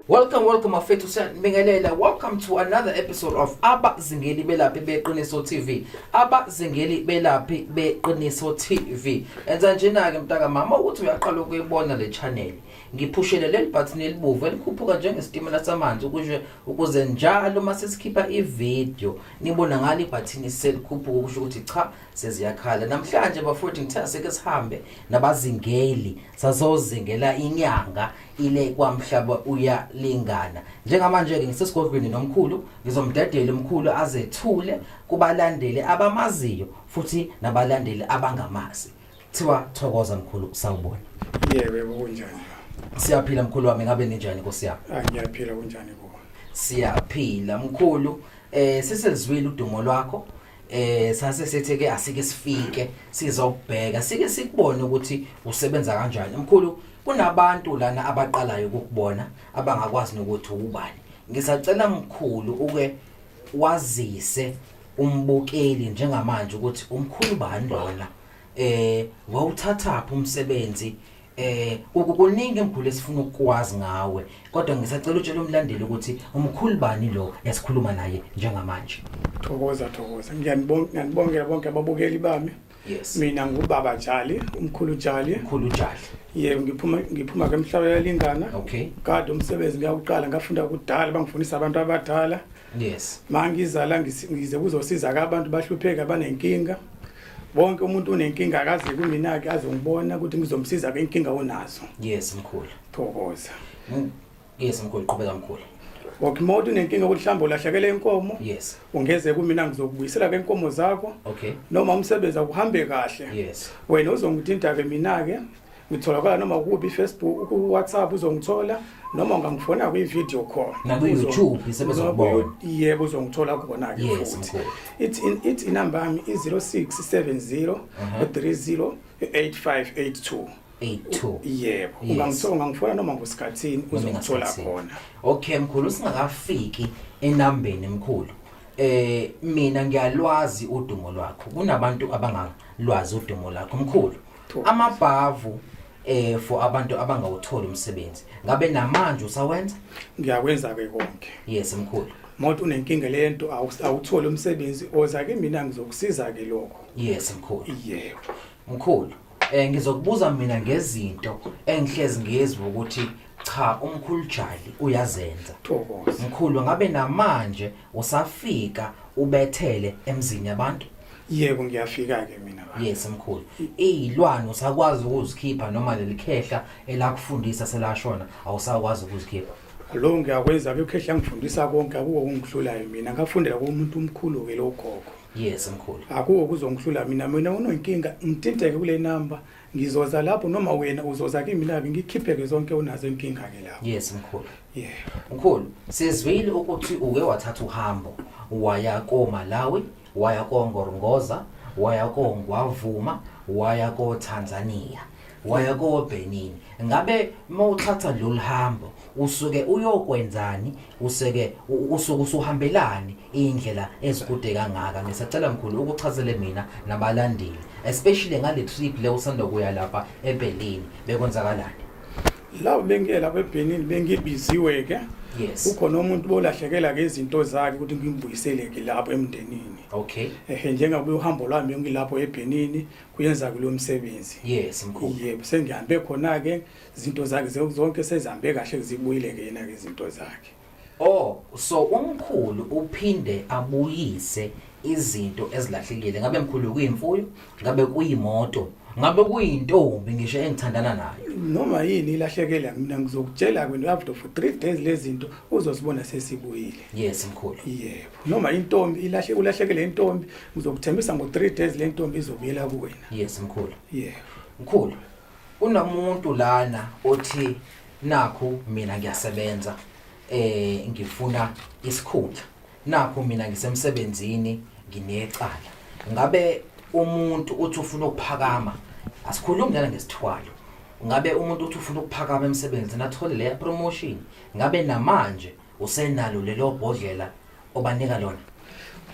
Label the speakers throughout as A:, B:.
A: Welcome, welcome, Afethu Syanibingelela. Welcome to another episode of Abazingeli Belaphi Beqiniso TV. Abazingeli Belaphi Beqiniso TV. Enza njena-ke mntaka mama ukuthi uyaqala ukuyibona le channel. Ngiphushele leli button elibovu elikhuphuka njengesitimela samanzi ukusho ukuze njalo uma sesikhipha ivideo nibona ngalo ibhathini selikhuphuka ukusho ukuthi cha seziyakhala. Namhlanje bafowethu ngithe asike sihambe nabazingeli sazozingela inyanga ile kwamhlaba uyalingana. Njengamanje-ke ngisesigodlweni nomkhulu ngizomdedela umkhulu azethule kubalandeli abamaziyo futhi nabalandeli abangamazi. Thiwa thokoza mkhulu sawubona. Yebo yebo
B: kunjani? Siyaphila mkhulu
A: wami ngabe ninjani Nkosi yami? Ah ngiyaphila kunjani
B: kuwe? Siyaphila
A: mkhulu eh siselizwile udumo lwakho eh sase sethe ke asike sifike sizokubheka sike sikubone ukuthi usebenza kanjani mkhulu kunabantu lana abaqalayo ukukubona abangakwazi nokuthi ubani ngisacela mkhulu uke wazise umbukeli njengamanje ukuthi umkhulu bani lona eh wawuthathaphi umsebenzi eh kukuningi emkhulu esifuna ukukwazi ngawe kodwa ngisacela utshele umlandeli ukuthi umkhulu bani lo esikhuluma naye njengamanje thokoza
B: thokoza ngiyanibonga ngiyanibongela bonke ababukeli bami yes mina
A: ngubaba
B: Jali umkhulu Jali umkhulu Jali
A: yebo ngiphuma
B: ngiphuma ke emhlabeni yalingana okay kade
A: umsebenzi
B: ngiyawuqala ngafunda kudala bangifundisa abantu abadala yes
A: mangizala
B: ngize kuzosiza ka abantu bahlupheka banenkinga wonke umuntu unenkinga akaze kumina ke azongibona ukuthi ngizomsiza ke inkinga onazo yes mkhulu
A: thokoza
B: mm,
A: yes mkhulu qhubeka mkhulu Okay mode
B: unenkinga ukuthi mhlawumbe ulahlekele inkomo yes ungeze
A: kumina
B: ngizokubuyisela ke inkomo zakho okay noma
A: umsebenzi
B: akuhambe kahle yes wena
A: uzongithinta
B: ke mina ke ngitholakala noma kubi Facebook ku WhatsApp uzongithola noma ungangifona kwi video call naku YouTube
A: sebezokubona yebo uzongithola
B: kubona ke futhi
A: it in it inamba
B: yami i 0670 30 8582 82
A: yebo ungangithola
B: ungangifona noma ngosikhathini uzongithola khona okay mkhulu
A: singakafiki enambeni mkhulu eh mina ngiyalwazi udumo lwakho kunabantu abangalwazi udumo lakho mkhulu amabhavu eh for abantu abangawutholi umsebenzi ngabe namanje usawenza ngiyakwenza ke
B: konke yes mkhulu
A: mawuthi unenkinga
B: lento awutholi umsebenzi oza ke mina ngizokusiza ke lokho yes mkhulu
A: yebo
B: mkhulu
A: eh ngizokubuza mina ngezinto engihlezi ngiyezwa ukuthi cha umkhulu Jali uyazenza thokoza mkhulu
B: ngabe
A: namanje usafika ubethele emzini yabantu yebo ngiyafika
B: ke mina baba yes mkhulu
A: izilwane usakwazi ukuzikhipha noma lelikhehla elakufundisa selashona awusakwazi ukuzikhipha lo ngiyakwenza
B: abekhehla ngifundisa konke akuwo kungihlulayo mina ngafundela kumuntu omkhulu ke logogo yes mkhulu
A: akuwo kuzongihlula
B: mina mina unonkinga ngithinteke kule number ngizoza lapho noma wena uzoza kimi la ngikhipheke zonke unazo inkinga ke la yes mkhulu yeah
A: mkhulu sizwile ukuthi uke wathatha uhambo waya ko Malawi waya koNgorongoza waya koNgwavuma waya koTanzania waya koBenin ngabe mawuthatha lolu hambo usuke uyokwenzani useke usuke usuhambelani indlela ezikude kangaka ngisacela mkhulu ukuchazele mina nabalandeli especially ngale trip le usanda kuya lapha eBerlin bekwenzakalani Lawo
B: bengiyela kweBenin bengibiziwe ke. Yes. Ukhona umuntu
A: bolahlekela
B: ke izinto zakhe ukuthi ngimbuyisele ke lapho emndenini. Okay. Ehe
A: njengabe uhambo
B: lwami ngilapho eBenin kuyenza kulomsebenzi. Yes mkhulu. Yebo
A: sengihambe khona
B: ke izinto zakhe zonke sezihambe kahle zibuyile ke yena ke izinto zakhe. Oh,
A: so umkhulu uphinde abuyise izinto ezilahlekile. Ngabe mkhulu kuyimfuyo, ngabe kuyimoto, ngabe kuyintombi ngisho engithandana nayo. Noma yini
B: ilahlekela mina ngizokutshela kwena after for 3 days lezinto uzosibona sesibuyile. Yes mkhulu.
A: Yebo. Noma
B: intombi ilahle ulahlekele intombi ngizokuthembisa ngo 3 days lentombi izobuyela kuwena. Yes mkhulu.
A: Yebo.
B: Mkhulu,
A: Kunomuntu lana othi nakhu mina ngiyasebenza eh ngifuna isikhundla. Nakhu mina ngisemsebenzini nginecala. Ngabe umuntu uthi ufuna ukuphakama asikhulumi lana ngesithwalo. Ngabe umuntu uthi ufuna ukuphakama emsebenzini athole le promotion. Ngabe namanje usenalo lelo bhodlela obanika lona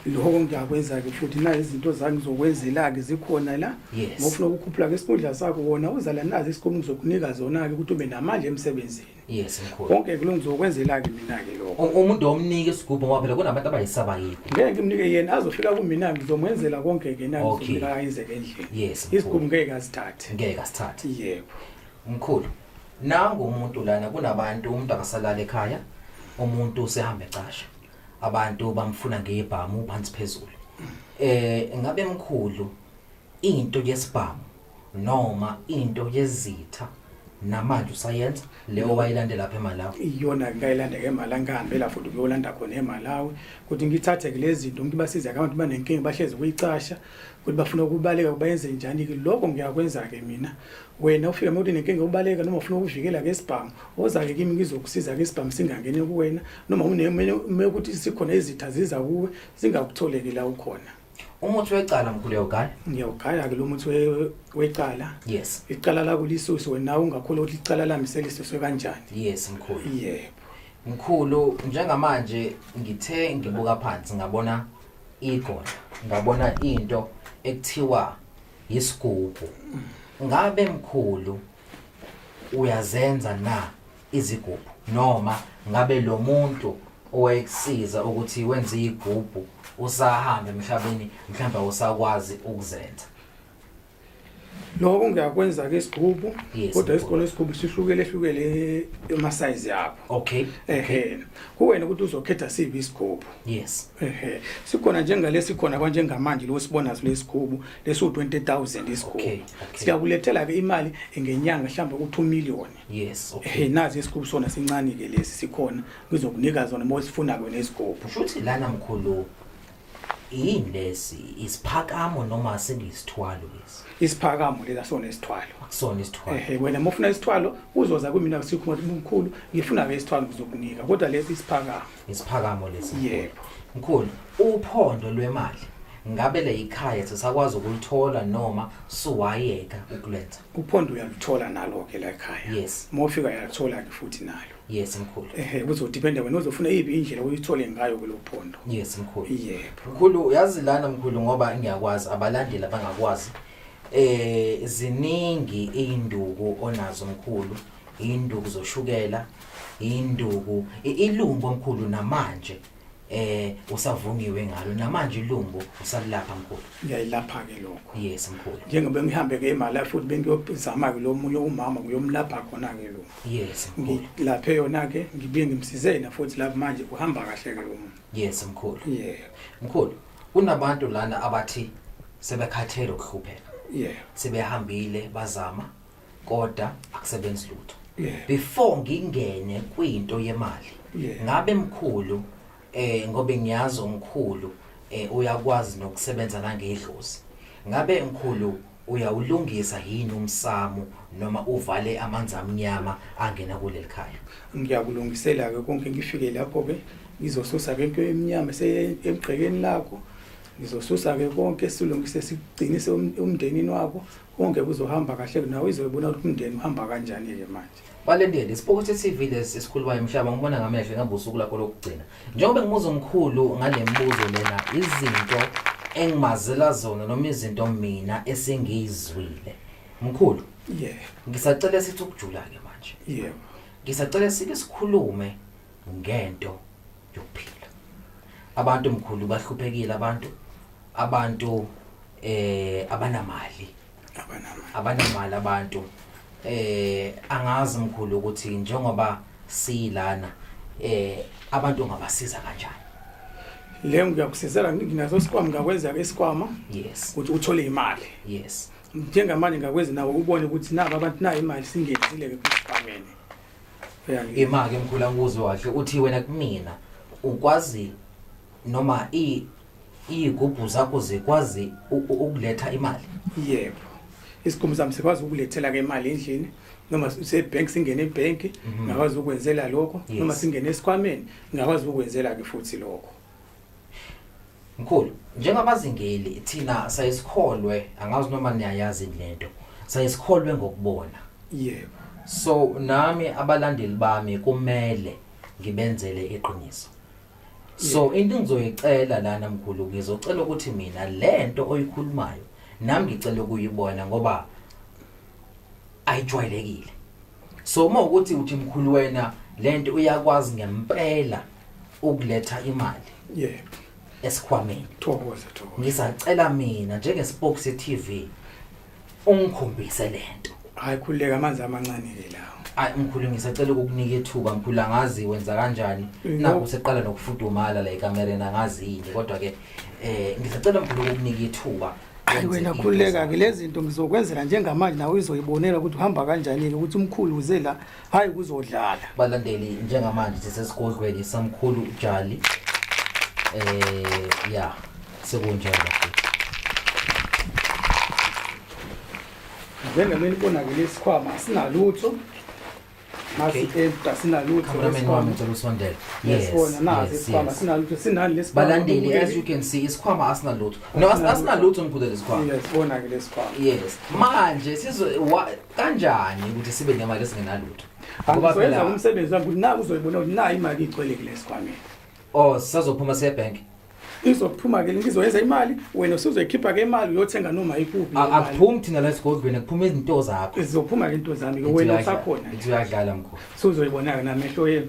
A: lokho
B: ngiyakwenza-ke futhi na izinto zami zokwenzela-ke zikhona la Yes. ngofuna ukukhuphula-ke isikhundla sakho wona uzala nazi isikhumi ngizokunika zona-ke ukuthi ube namandla emsebenzini yes mkhulu
A: konke-ke lo ngizokwenzela-ke
B: mina-ke lokho U- umuntu omnike isigubhu
A: ngoba phela kunabantu abayisaba yini ngeke ngimnike yena
B: azofika kumina ngizomwenzela konke-ke na Okay. ngizomnika ayenzeke endlini Yes, mkhulu. isikhumi ngeke
A: azithathe
B: ngeke asithathe yebo
A: mkhulu nangu umuntu lana kunabantu umuntu akasalala ekhaya umuntu usehamba ecasha abantu bamfuna ngebhamu phansi phezulu eh ngabe mkhulu into yesibhamu noma into yezitha namanje usayenza leyo wayilande lapha eMalawi iyona ngayilanda ke
B: eMalawi ngihambe la futhi kuyolanda khona eMalawi ukuthi ngithathe ke lezi zinto ngiba size abantu banenkinga bahlezi kuyicasha ukuthi bafuna ukubaleka bayenze njani ke lokho ngiyakwenza ke mina wena ufika emotweni nenkinga ubaleka noma ufuna ukuvikela ke isibhamu woza-ke kimi ngizokusiza ke isibhamu singangeni kuwena noma unemume ukuthi sikhona izitha ziza kuwe zingakutholeki la ukhona umuthi wecala
A: mkhulu uyawugaya ngiyawugaya ke lo muthi
B: we- wecala yes icala
A: lakho lisusu
B: wena ungakholwa ukuthi icala lami selisuswe kanjani yes mkhulu
A: yebo
B: mkhulu
A: njengamanje ngithe ngibuka phansi ngabona igoda ngabona into ekuthiwa yisigubhu ngabe mkhulu uyazenza na izigubhu noma ngabe lo muntu owayekusiza ukuthi wenze igubhu usahambe emhlabeni mhlawumbe awusakwazi ukuzenza lokho
B: ngiyakwenza ke isigubhu Yes, kodwa mkhulu. isikole isigubhu sihlukele hlukele ema size yakho okay ehe kuwena ukuthi uzokhetha siphi isigubhu yes Ehe.
A: Sikhona
B: njengalesi khona kwanjengamanje lo sibona silesikhulu lesu 20000 isikhulu. Okay, okay. Siyakulethela ke imali ngenyanga mhlawumbe ku 2 million. Yes, okay. Ehe
A: nazi isikhulu sona
B: sincane ke lesi sikhona ngizokunika zona uma usifuna kwena isikhulu. Shuthi lana mkhulu
A: yini lesi isiphakamo noma sengiyisithwalo lesi. Isiphakamo lela sona isithwalo.
B: Akusona isithwalo. Ehe
A: wena uma ufuna isithwalo
B: uzoza kumina kusikhulu mkhulu ngifuna ke isithwalo ngizokunika kodwa lesi isiphakamo. isiphakamo
A: lesi yebo mkhulu uphondo lwemali ngabe le ikhaya sisakwazi ukulithola noma suwayeka ukulenza uphondo uyalithola
B: nalo ke la ekhaya yes uma ufika uyalithola
A: ke
B: futhi nalo yes mkhulu
A: ehe kuzodependa wena
B: uzofuna iphi indlela uyithole ngayo kulophondo yes mkhulu
A: yebo mkhulu
B: uyazi lana
A: mkhulu ngoba ngiyakwazi abalandeli abangakwazi eh ziningi induku onazo mkhulu induku zoshukela induku i- ilumbo mkhulu namanje eh usavungiwe ngalo namanje ilumbo usalilapha mkhulu ngiyayilapha-ke lokho
B: yes mkhulu njengoba
A: ngihambe-ke
B: imali futhi bengiyozama-ke lo munye umama ngiyomlapha khona-ke lo yes mkhulu ngilaphe
A: yona-ke
B: ngibuye ngimsize yena futhi lapho manje uhamba kahle-ke lo muntu yes mkhulu
A: yebo mkhulu kunabantu lana abathi sebekhathele ukuhlupheka yebo
B: sebehambile
A: bazama koda akusebenzi lutho Yeah. before
B: ngingene
A: kwinto yemali Yeah. ngabe mkhulu eh ngobe ngiyazi umkhulu eh uyakwazi nokusebenza nangedlozi ngabe mkhulu uyawulungisa yini umsamo noma uvale amanzi amnyama angena kuleli khaya ngiyakulungisela-ke
B: konke ngifike lapho-ke ngizosusa-ke into emnyama esemgqekeni lakho ngizosusa-ke konke silungise sigcinise um- umndenini wakho konke kuzohamba kahle nawe izoyibona ukuthi umndeni uhamba kanjani-ke manje balendele isipokothi
A: tv lesi esikhulumayo mhlaba ngibona ngamehlo ingabe usuku lakho lokugcina njengoba ngimuza umkhulu ngale mbuzo lena izinto engimazela zona noma izinto mina esingiyizwile mkhulu yebo ngisacela sithi ukujula-ke manje yebo ngisacela sike sikhulume ngento yokuphila abantu mkhulu bahluphekile abantu abantu eh abanamali abanamali abanamali abantu eh angazi mkhulu ukuthi njengoba silana eh abantu ngabasiza kanjani le
B: ngiyakusizela nginaso isikwama ngakwenza ke isikwama yes ukuthi uthole
A: imali
B: yes
A: njengamanje ngakwenza
B: nawe ubone ukuthi nabo abantu nayo imali singenzile ke kusibhamene
A: imali emkhulu angikuzwe kahle uthi wena kumina ukwazi noma i- iyigubhu zakho zikwazi u- u- ukuletha imali yebo
B: isigqomo sami sikwazi ukulethela ke imali endlini noma sebhenki singene ebhenki Mhm. ngakwazi ukwenzela lokho Yes. noma singene esikhwameni ngakwazi ukwenzela ke futhi lokho mkhulu
A: njengabazingeli thina sayesikholwe angazi noma niyayazi lento sayesikholwe ngokubona
B: yebo so
A: nami abalandeli bami kumele ngibenzele iqiniso so into engizoyicela lana mkhulu ngizocela ukuthi mina lento oyikhulumayo nami ngicela ukuyibona ngoba ayijwayelekile so uma ukuthi uthi mkhulu wena lento uyakwazi ngempela ukuletha imali yebo
B: esikhwameni
A: thokoza thokoza
B: ngisacela
A: mina njenge Spokes TV ungikhombise lento hayi khuleka amanzi
B: amancane ke lawo hayi mkhulu ngisacela
A: ukukunika ithuba mkhulu angazi wenza kanjani naku seqala nokufudumala la ekamereni angazi yini kodwa ke eh ngisacela mkhulu ukukunika ithuba hayi wena khuleka
B: ke lezi zinto ngizokwenzela njengamanje nawe uzoyibonela ukuthi uhamba kanjani ke ukuthi umkhulu uze la hayi kuzodlala balandeli
A: njengamanje sisesigodlweni samkhulu jali eh ya sekunjalo
B: njengemini konakele isikhwama
A: sinalutho
B: balandeli as you can
A: see isikhwama asinalutho no asinalutho ngikhude lesikhwama
B: yes manje
A: kanjani ukuthi sibe nemali esingenalutho ngoba phela
B: umsebenzi wami ukuthi na uzoyibona ukuthi na imali igcwele kule sikwameni oh
A: sazophuma siye bank izophuma
B: ke ngizoyenza imali wena usuzoyikhipha ke imali uyothenga noma ikuphi akuphumi thina la esigodlweni
A: akuphuma izinto zakho izophuma ke into zami ke
B: wena usakhona ithi uyadlala mkhulu
A: suzoyibona ke namehlo
B: yenu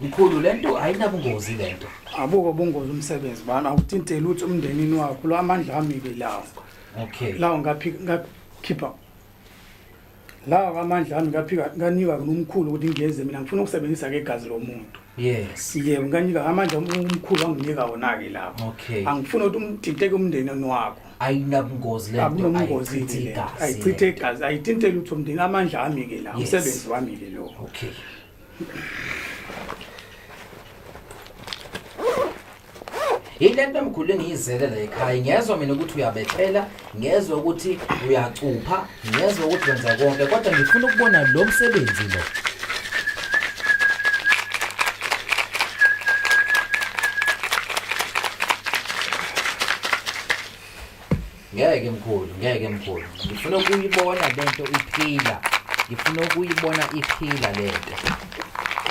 A: mkhulu lento ayinabungozi lento abuko bungozi
B: umsebenzi bana awuthinte lutho umndenini wakho lo amandla ami ke lawo okay lawo
A: ngaphi
B: ngakhipha lawo amandla ami ngaphika nganika kunomkhulu ukuthi ngiyeze mina ngifuna ukusebenzisa ke igazi lomuntu Yes. Yebo
A: ngiyanika amandla
B: omkhulu anginika wona ke lapho. Okay. Angifuni ukuthi
A: umthinteke
B: umndeni wakho. Ayinabungozi le
A: nto ayichithe igazi. Ayichithe
B: igazi, ayithinte lutho umndeni amandla ami ke la, umsebenzi wami ke lo. Okay.
A: yile nto emkhulu engiyizele la ekhaya ngiyezwa mina ukuthi uyabethela ngiyezwa ukuthi uyacupha ngiyezwa ukuthi wenza konke kodwa ngifuna ukubona lo msebenzi lo Ngeke mkhulu, ngeke mkhulu. Ngifuna ukuyibona lento iphila. Ngifuna ukuyibona iphila lento.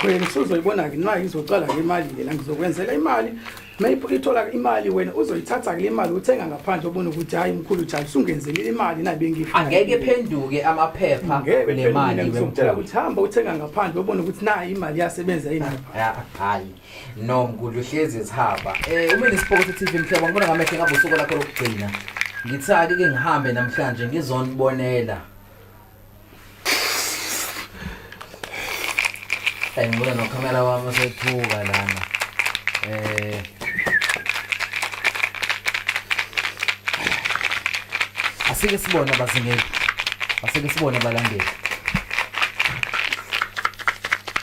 A: Wena
B: usuzoyibona ke nayi izocala ngemali lela ngizokwenzela imali. Mayipho ithola imali wena uzoyithatha ke imali uthenga ngaphandle ubona ukuthi hayi mkhulu cha usungenzelile imali nayi bengifa. Angeke phenduke
A: amaphepha Ngeke nemali ngizokutshela wemkhulu. ukuthi hamba
B: uthenga ngaphandle ubona ukuthi nayi imali yasebenza yini. Ya, hayi.
A: no mgudla uhlezi ezihaba um uma nesipokothi tv mhlobo ngibona ngamehlo ngabe usuku lakho lokugcina ngithi ake ke ngihambe namhlanje ngizonibonela ayi ngibona nokhamera wami osethuka lana um asike sibone abazingeli asike sibone abalandeli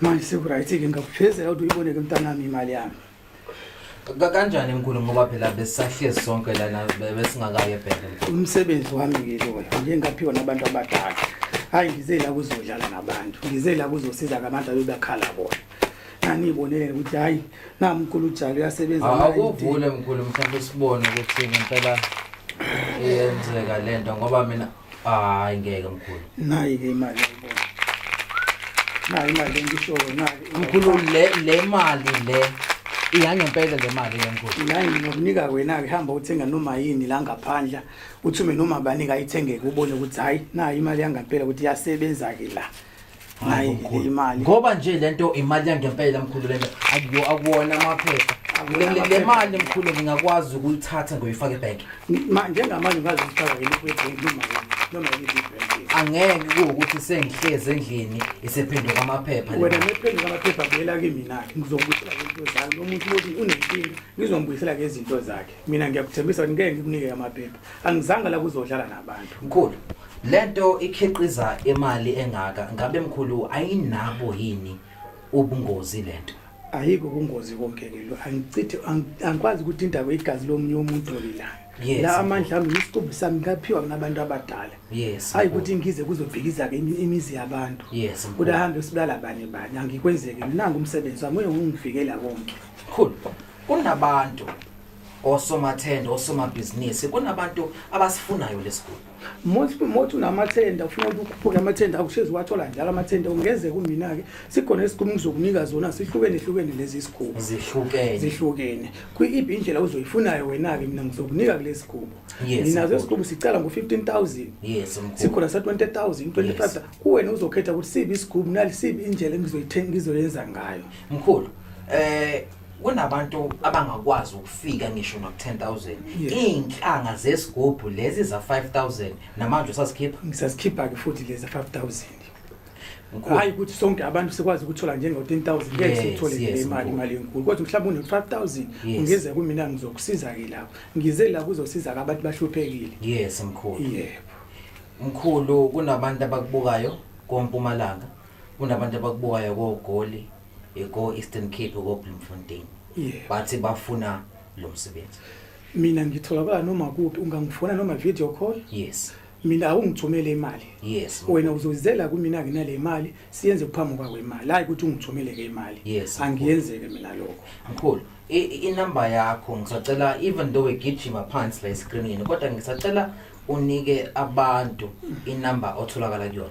B: manje sekuright-ke ngakuphezela ukuthi uyibone-ke mntanami imali yami Ka-
A: kanjani mkhulu ngoba phela besisahlezi sonke lana be- besingakayi ebhele umsebenzi wami-ke
B: lona nje ngaphiwa nabantu abadala hhayi ngize la kuzodlala nabantu ngize la kuzosiza-ke abantu abebakhala bona nganiyibonele ukuthi hhayi namkhulu ujalo uyasebenza akuvule
A: mkhulu mhlawumbe sibone ukuthi ngempela iyenzeka le nto ngoba mina hayi ngeke mkhulu nayi-ke imali
B: ayibona nayi imali engishoyo nayi mkhulu le le
A: mali le iyangempela le mali le mkhulu nayi nginokunika
B: wena-ke hamba uthenga noma yini la ngaphandla kuthiume noma banika ayithengeke ubone ukuthi hhayi nayi imali yangempela ukuthi iyasebenza-ke la hayi imali ngoba nje lento
A: imali yangempela mkhulu lento akuyo akuwona amaphepha le mali mkhulu ngingakwazi ukuyithatha ngoyifaka ebank njengamanje
B: ngazi ukufaka yini kwibank noma noma yini angeke
A: kuwukuthi sengihlezi endlini isephenduka amaphepha wena nephenduka amaphepha
B: buyela kimina ngizombuyisela ngezinto zakhe lo muntu lothi unenkinga ngizombuyisela ngezinto zakhe mina ngiyakuthembisa ukuthi ngeke ngikunike amaphepha angizange la kuzodlala nabantu mkhulu
A: lento ikhiqiza imali engaka ngabe mkhulu ayinabo yini ubungozi lento ayikho kungozi
B: konke ke lo angichithi angikwazi ukuthi indaba igazi lomunye umuntu lilanga yes, la amandla ami isiqumbu sami ngaphiwa kunabantu abadala yes, hayi ukuthi ngize kuzobhikiza ke imizi yabantu yes, kodwa hambe usibulala bani bani angikwenzeki nangu umsebenzi wami ungivikela konke cool
A: kunabantu osomathenda osomabhizinisi kunabantu abasifunayo lesiguli most most
B: unamathenda ufuna ukuthi ukhuphuke amathenda akushezi wathola njalo amathenda ungeze kumina ke sikhona isigumi ngizokunika zona sihlukene hlukene lezi sigubo zihlukene zihlukene kuyiphi indlela uzoyifunayo wena ke mina ngizokunika kulesi sigubo ninazo isigubo sicala ngo 15000 yes sikhona sa 20000 25 kuwena uzokhetha ukuthi sibi isigubo nalisiphi indlela engizoyithenga ngizoyenza ngayo mkhulu
A: eh kunabantu abangakwazi ukufika ngisho no 10000 iinhlanga zesigubhu lezi za 5000 namanje usasikhipha ngisazikhipha
B: ke futhi lezi 5000 hayi ukuthi sonke abantu sikwazi ukuthola njengo 10000 ngeke sithole le imali imali enkulu kodwa mhlawumbe une 5000 ungeze kumina ngizokusiza ke lapho ngize la kuzosiza ke abantu bahluphekile yes mkhulu yebo mkhulu
A: kunabantu abakubukayo kompumalanga kunabantu abakubukayo kogoli ko-eastern cape kobloemfontein yeah. bathi bafuna lo msebenzi mina
B: ngitholakala noma kuphi ungangifona noma video call yes mina awungithumele imali yes wena uzozizela kumina nginale imali siyenze kuphambi kwakho imali hayi ukuthi ungithumele ke imali yes angiyenzeke mina lokho mkhulu
A: inamba yakho ngisacela even though egijima phansi la escreenini kodwa ngisacela unike abantu inamba otholakala kuyona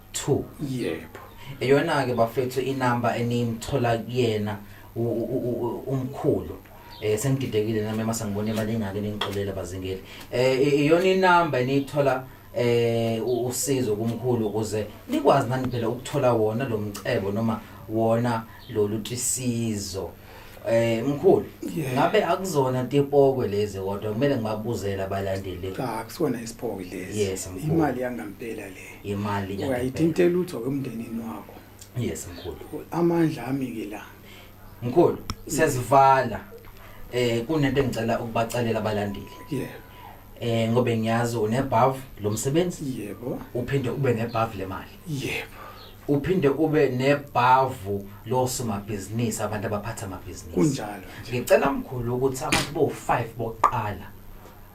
B: 2 yebo eyona ke
A: bafethu inamba enimthola kuyena umkhulu eh sengididekile nami mase ngibone imali engake ningixolele bazingeli eh iyona inamba eniyithola eh usizo kumkhulu ukuze nikwazi nani phela ukuthola wona lo mcebo noma wona lolu tisizo Eh mkhulu, Yeah. ngabe akuzona tipokwe lezi kodwa kumele ngibabuzele abalandeli cha kusona isiphoko
B: lesi Yes, mkhulu. imali yangampela le imali yangempela. uyayithinte
A: lutho ke
B: emndenini wakho Yes mkhulu.
A: amandla ami
B: ke la Mkhulu,
A: siyazivala. Eh kunento engicela ukubacelela abalandeli. yebo Eh ngobe ngiyazi unebhavu lomsebenzi yebo uphinde
B: ube nebhavu
A: lemali. yebo
B: uphinde
A: ube nebhavu losomabhizinisi abantu abaphatha amabhizinisi kunjalo ngicela
B: mkhulu
A: ukuthi abantu bo-5 bokuqala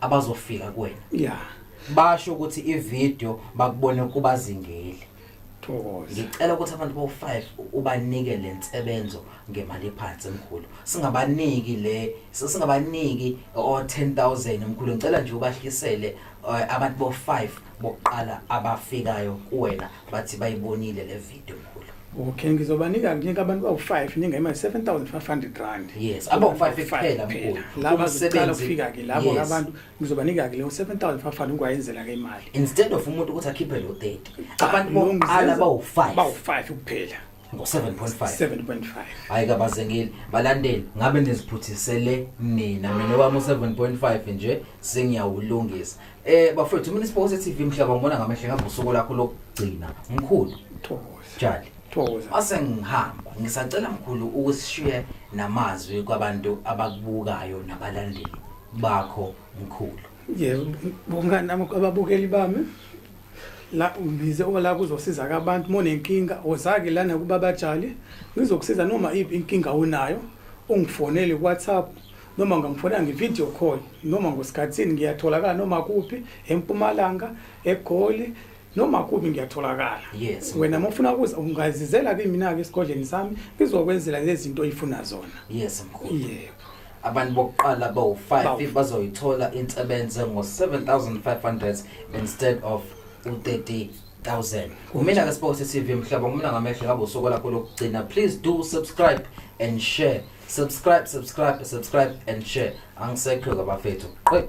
A: abazofika kuwena ya basho ukuthi ivideo bakubone kubazingeli ngicela ukuthi abantu bo-5 ubanike le nsebenzo ngemali ephansi mkhulu singabaniki le singabaniki o-10 000 mkhulu ngicela nje ubahlisele eh, abantu bo-5 bokuqala abafikayo kuwena bathi bayibonile le video mkhulu okay ngizobanika
B: nginika abantu bawu-five ninga imali seven thousand five hundred rand yes abawu-five kuphela
A: mkhulu laba zicala
B: ukufika-ke labo yes. abantu ngizobanika-ke leyo seven thousand five hundred ngiwayenzela-ke imali instead of umuntu
A: ukuthi akhiphe lo thirty abantu bokuqala bawu-five bawu-five kuphela ngo-7.5 hhayi
B: kabazengile
A: balandeli ngabe niziphuthisele mina mina wami u-7.5 nje sengiyawulungisa Eh bafethu mina isiphose TV mhlaba ngibona ngamehlo ngabe usuku lakho lokugcina mkhulu thokoza jali thokoza ase ngihamba ngisacela mkhulu ukusishiye namazwi kwabantu abakubukayo nabalandeli bakho mkhulu yebo
B: bongani nami ababukeli bami la ngize ola kuzosiza abantu monenkinga ozake lana kubabajali ngizokusiza noma iphi inkinga onayo ungifonele ku WhatsApp noma ngamfona nge-video call noma ngosikhathini ngiyatholakala noma kuphi empumalanga egoli noma kuphi ngiyatholakala yes. wena uma
A: ufuna ukuza
B: ungazizela kimina-ke esigodleni sami ngizokwenzela lezi zinto oyifuna zona yes mkhulu
A: yebo abantu
B: bokuqala
A: bawu-five bazoyithola insebenze ngo-7500 instead of u-30 thousand umina ke sibose tv mhlaba umna ngamehlo ngabe usokola khona ukugcina please do subscribe and share subscribe subscribe subscribe and share angisekho kabafethu qe